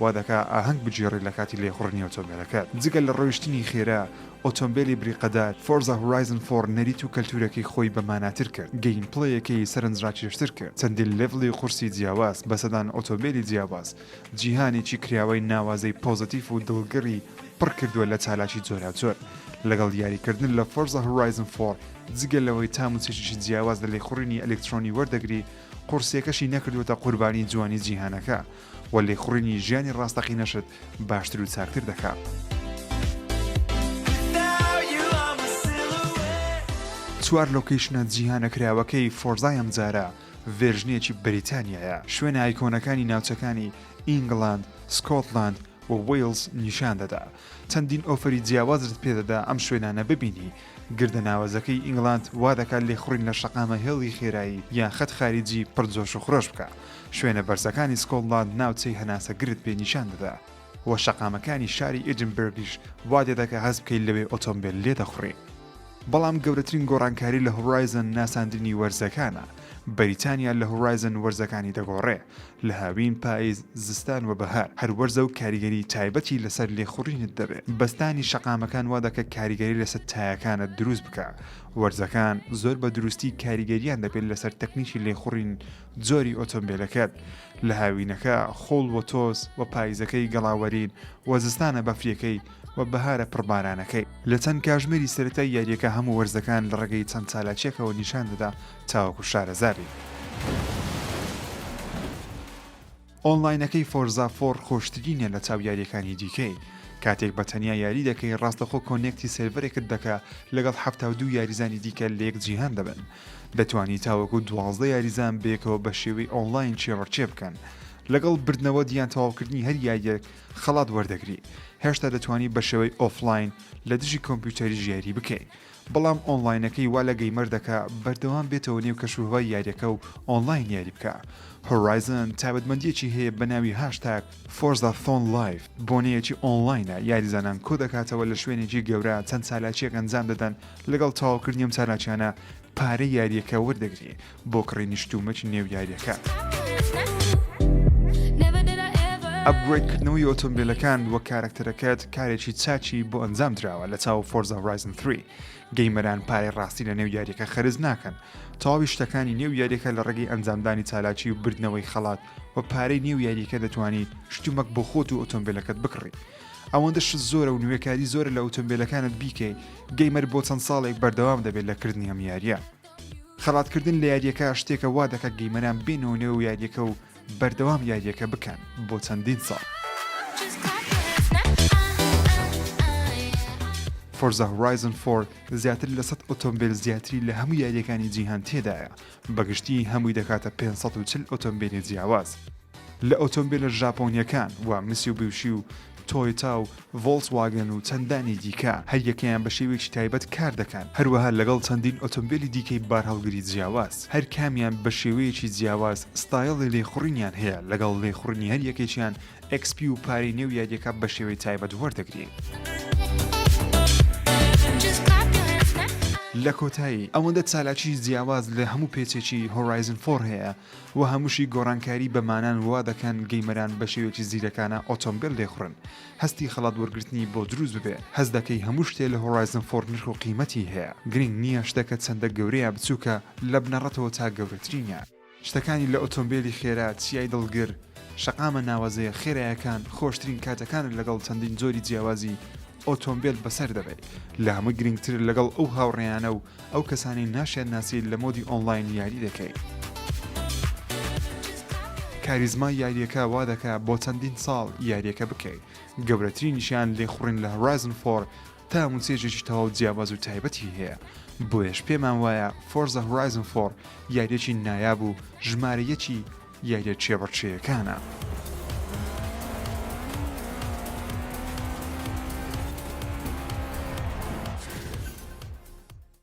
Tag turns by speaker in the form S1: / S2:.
S1: وا دەکا ئاهەنگ بگێڕی لە کاتی لێخوڕینی ئۆتۆمبێلەکەت. جگە لە ڕۆیشتنی خێرا، ئۆتۆمبێلی بریقەدار، فۆرزا هورایزن فۆر نەریت و کەلتوورەکەی خۆی بە ماناتر کرد، گەیمپلەیەکەی سەرنجڕاکێشتر کرد، چەندین لێڤڵی قورسی جیاواز، بە سەدان ئۆتۆمبێلی جیاواز، جیهانێکی کراوەی ناوازەی پۆزەتیف و دڵگڕی پڕ کردووە لە چالاکی جۆراوجۆر. لەگەڵ یاریکردن لە فۆرزا هورایزن فۆر، جگە لەوەی تام و چێژێکی جیاواز لە لێخوڕینی ئەلیکترۆنی وەردەگری، قورسییەکەشی نەکردووەتە قوربانی جوانی جیهانەکە، و لێخوڕینی ژیانی ڕاستەقینەشت باشتر و چاکتر دەکا. چوار لۆکەیشنە جیهانە کراوەکەی فۆرزای ئەمجارە ڤێرژنێکی بەریتانیایە، شوێنە ئایکۆنەکانی ناوچەکانی ئینگڵاند، سکۆتلاند و وەیڵز نیشان دەدا. چەندین ئۆفەری جیاوازت پێ دەدا ئەم شوێنانە ببینی گردە ناوەزەکەی ئینگلاند وا دەکات لێخوڕین لە شەقامە هێڵی خێرایی یان خەت خاریجی پڕ جۆش و خرۆش بکا. شوێنە بەرزەکانی سکۆتلاند ناوچەی هەناسەگرت پێ نیشان دەدا و شەقامەکانی شاری ئێدینبرگیش وا دەدەکا هەست بکەی لەوێ ئۆتۆمبێل لێ دەخوڕی. بەڵام گەورەترین گۆڕانکاری لە هۆرایزن ناساندنی وەرزەکانە. بەریتانیا لە هۆرایزن وەرزەکانی دەگۆڕێ. لە هاوین، پایز، زستان و بەهار هەر وەرزە و کاریگەریی تایبەتی لەسەر لێخوڕینت دەبێ. بەستانی شەقامەکان وا دەکا کاریگەری لەسەر تایەکانت دروست بکا. وەرزەکان زۆر بە دروستی کاریگەرییان دەبێ لەسەر تەکنیکی لێخوڕین جۆری ئۆتۆمبێلەکەت. لە هاوینەکە خۆڵ و تۆز و پایزەکەی گەڵاوەرین و زستانە بەفریەکەی و بەهارە پڕ بارانەکەی. لە چەند کاژمێری سەرەتای یارییەکە هەموو وەرزەکان لە ڕێگەی چەند چالاکییەکەوە نیشان دەدا تاوەکو شارەزا بیت. ئۆنڵاینەکەی فۆرزا فۆڕ خۆشترینە لە چاو یاریەکانی دیکەی کاتێک بە تەنیا یاری دەکەی ڕاستەخۆ کۆنێکتی سێرڤەرێکت دەکا لەگەڵ حەفتا و دوو یاریزانی دیکە لە یەک جیهان دەبن دەتوانی تاوەکو دوازدە یاریزان بەیەکەوە بە شێوەی ئۆنڵاین چێوەڕچێ بکەن لەگەڵ بردنەوە یان تەواوکردنی هەر یاریەک خەڵات وەردەگری هێشتا دەتوانی بە شێوەی ئۆفلاین لە دژی کۆمپیوتەری ژیاری بکەیت بەڵام ئۆنڵاینەکەی وا لە گەیمەر دەکا بەردەوام بێتەوە نێو کەشوهەوای یاریەکە و ئۆنڵاین یاری بکا. هۆرایزن تایبەتمەندیەکی هەیە بە ناوی هاشتاگ فۆرزا ثۆن لایڤ، بۆنەیەکی ئۆنڵاینە یاریزانان کۆ دەکاتەوە لە شوێنێکی گەورە چەند چالاکیەک ئەنجام دەدەن لەگەڵ تەواوکردنی ئەم چالاکیانە پارەی یاریەکە وەردەگری بۆ کڕینی شت و مەچ نێو یاریەکە. ئەپگرەید کردنەوەی ئۆتۆمبیلەکان وەک کارەکتەرەکەت کارێکی چاکی بۆ ئەنجام دراوە لە چاو فۆرزا هۆرایزن 3. گەیمەران پارەی ڕاستی لە نێو یاریەکە خەرج ناکەن. تەواوی شتەکانی نێو یاریەکە لە ڕێگەی ئەنجامدانی چالاکی و بردنەوەی خەڵات و پارەی نێو یاریەکە دەتوانی شت و مەک بۆ خۆت و ئۆتۆمبیلەکەت بکڕی. ئەوەندە شت زۆرە و نوێکاری زۆرە لە ئۆتۆمبیلەکانت بیکەی. گەیمەر بۆ چەند ساڵێک بەردەوام دەبێت لە کردنی ئەم یاریە. خەڵاتکردن لە یاریەکە شتێکە وا دەکات گەیمەران بێنەوە نێو یاریەکە و بەردەوام یاریەکە بکەن بۆ چەندین ساڵ. فۆرزا هۆرایزن 4 زیاتر لە 100 ئۆتۆمبیل زیاتری لە هەموو یاریەکانی جیهان تێدایە بەگشتی هەمووی دەکاتە 540 ئۆتۆمبیلی جیاواز لە ئۆتۆمبیلە ژاپۆنیەکان و میسیوبیوشی و تۆیتا و ڤۆڵسواگن و چەندانی دیکە، هەریەکەیان بە شێوەیەکی تایبەت کار دەکەن، هەروەها لەگەڵ چەندین ئۆتۆمبێلی دیکەی بارهەڵگری جیاواز، هەر کامیان بە شێوەیەکی جیاواز ستایڵی لێخوڕینیان هەیە، لەگەڵ لێخوڕینی هەر یەکێکیان ئێکس پی و پارەی نێو یارییەکە بە شێوەی تایبەت وەردەگرین. لە کۆتایی، ئەوەندە چالاکیی جیاواز لە هەموو پێچێکی هۆرایزن فۆر هەیە، و هەمووشی گۆڕانکاری بە مانان وا دەکەن گەیمەران بە شێوێکی زیرەکانە ئۆتۆمبێل لێخڕن هەستی خەڵات وەرگرتنی بۆ دروست ببێ هەست دەکەی هەموو شتێ لە هۆڕایزن فۆڕ نرخ و قیمەتی هەیە گرنگ نییە شتەکە چەندە گەورە یا بچووکە لە بنەڕەتەوە تا گەورەترینە شتەکانی لە ئۆتۆمبێلی خێرا چیای دڵگر شەقامە ناوەزەیە خێرایەکان خۆشترین کاتەکانت لەگەڵ چەندین جۆری جیاوازی ئۆتۆمبێل بەسەر دەبەی لە هەمووی گرنگتر لەگەڵ ئەو هاوڕێیانە و ئەو کەسانی ناشیان ناسی لە مۆدی ئۆنڵاین یاری دەکەی. کاریزمای یاریەکە وا دەکا بۆ چەندین ساڵ یاریەکە بکەی گەورەترینیشیان لێخوڕین لە هۆرایزن فۆر تا موچێژێکی تەواو جیاباز و تایبەتی هەیە بۆیەش پێمان وایە فۆرزە هۆرایزن فۆر یاریەکی نایاب و ژمارە یەکی یاریە چێبڕچێیەکانە.